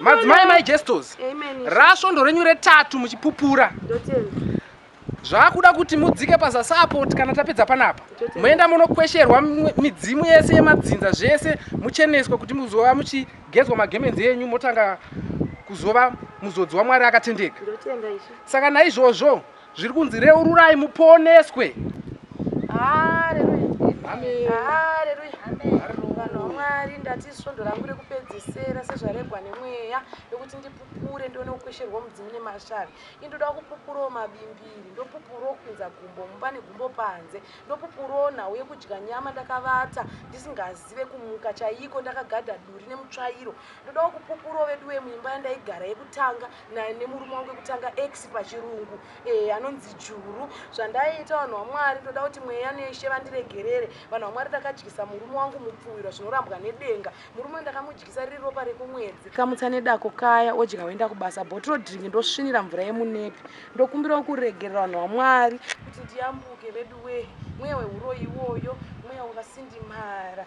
madzimai mai jestos rasvondo renyu retatu muchipupura zvakuda kuti mudzike pazasapot kana tapedza panapa moenda munokwesherwa midzimu yese yemadzinza zvese mucheneswa kuti muzova muchigezwa magemenzi enyu motanga kuzova muzodzi wamwari akatendeka saka naizvozvo Zviri kunzi reururai muponeswe. Mwari ndati svondo rangu rekupedzesera sezvaregwa nemweya yokuti ndipupure ndione kukwesherwa mudzimu nemashavi indoda kupupurawo mabimbiri ndopupurawo kupinza gumbo mumba negumbo panze ndopupurawo nhau yekudya nyama ndakavata ndisingazive kumuka chaiko ndakagadha duri nemutsvairo ndodawo kupupurawo veduwe muimba yandaigara yekutanga nemurume wangu wekutanga ex pachirungu eh, anonzi juru zvandaiita vanhu vamwari ndoda kuti mweya neshe vandiregerere vanhu vamwari ndakadyisa murume wangu mupfuwirwa zvinorambwa nedenga murume ndakamudyisa riri ropa rekumwedzi kamutsa nedako kaya odya woenda kubasa botro drink ndosvinira mvura yemunepi ndokumbirawo kuregerera vanhu vamwari kuti ndiyambuke veduwee mweya weuroyi iwoyo mweya wakasindimara